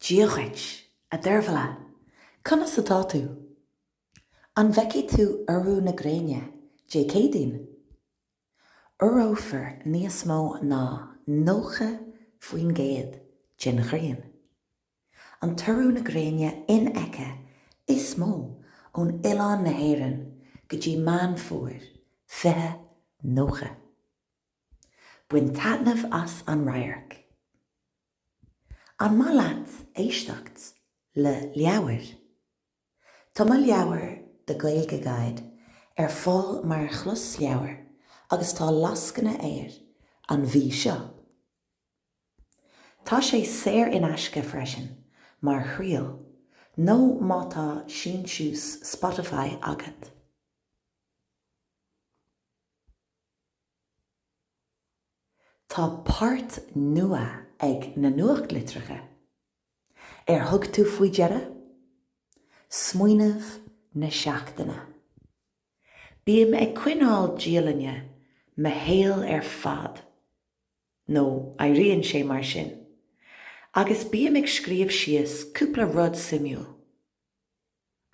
Dia dhuit, a Deirbhile! Conas atá tú? An bhfeicfidh tú urú na gréine Dé Céadaoin? Urófar níos mó ná 90% den ghrian. An t-urú na gréine infheicthe is mó ón oileán na hÉireann go dtí Meán Fómhair, 20 90. Bain taitneamh as an radharc! An maith leat éisteacht le leabhair? Tá mo leabhar The Gaeilge Guide ar fáil mar chlosleabhar agus tá lascaine air an mhí seo. Tá sé saor in aisce freisin mar thriail nó má tá síntiús Spotify agat. Tá páirt nua ag na nuachtlitreacha. Ar thug tú faoi deara? Smaoineamh na seachtaine. Bím ag coinneáil dialainne mo shaol ar fad, nó airíonn sé mar sin, agus bím ag scríobh síos cúpla rud suimiúil.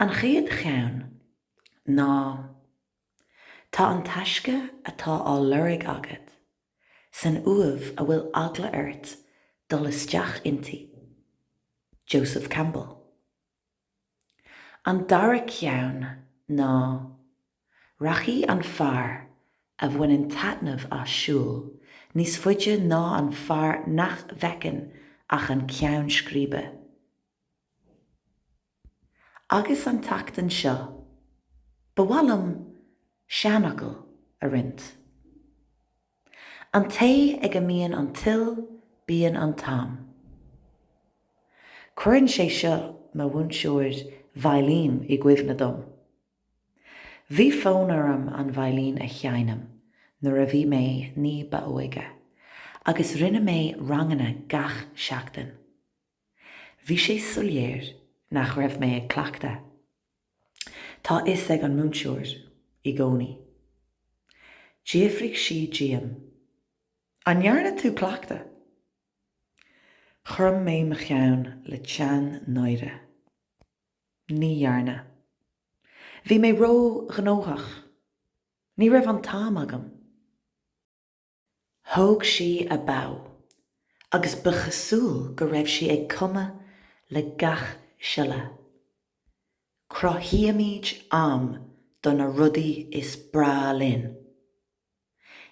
An chéad cheann ná. Tá an taisce atá á lorg agat san uaimh a bhfuil eagla ort dul isteach inti. Joseph Campbell. An dara ceann ná Rachaidh an fear a bhaineann taitneamh as siúl níos faide ná an fear nach bhfeiceann ach an ceann scríbe. Agus an tseachtain seo, ba mhaith liom seanfhocal a roinnt. An té ag a mbíonn an toil bíonn an t-am. Cuireann sé seo mo mhúinteoir veidhlín i gcuimhne dom. Bhí fonn orm an veidhlín a sheinm nuair a bhí mé ní ba óige agus rinne mé ranganna gach seachtain. Bhí sé soiléir nach raibh mé ag cleachtadh. Tá fhios ag an múinteoir i gcónaí. D'fhiafraigh sí díom, An ndearna tú cleachtadh? Chrom mé mo cheann le teann náire. Ní dhearna. Bhí mé ró-ghnóthach. Ní raibh an t-am agam. Thóg sí a bow agus ba chosúil go raibh sí ag cumadh le gach siolla. Cruthaímid am do na rudaí is breá linn.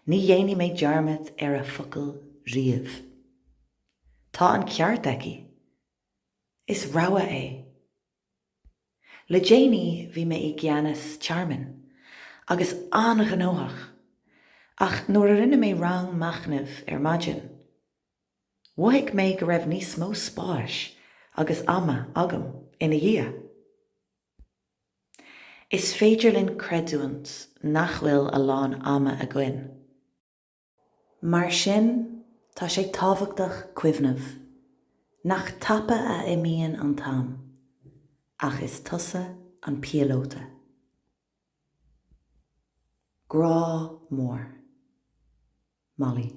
Ní dhéanfaidh mé dearmad ar a focal riamh. Tá an ceart aici. Is rogha é. Le déanaí bhí mé i gceannas tearmainn, agus an-ghnóthach, ach nuair a rinne mé rang machnaimh ar maidin, mhothaigh mé go raibh níos mó spáis agus ama agam ina dhiaidh. Is féidir linn creidiúint nach bhfuil a lán ama againn. Mar sin, tá sé tábhachtach cuimhneamh nach tapa a imíonn an t-am, ach is tusa an píolóta. Grá mór. Mollie.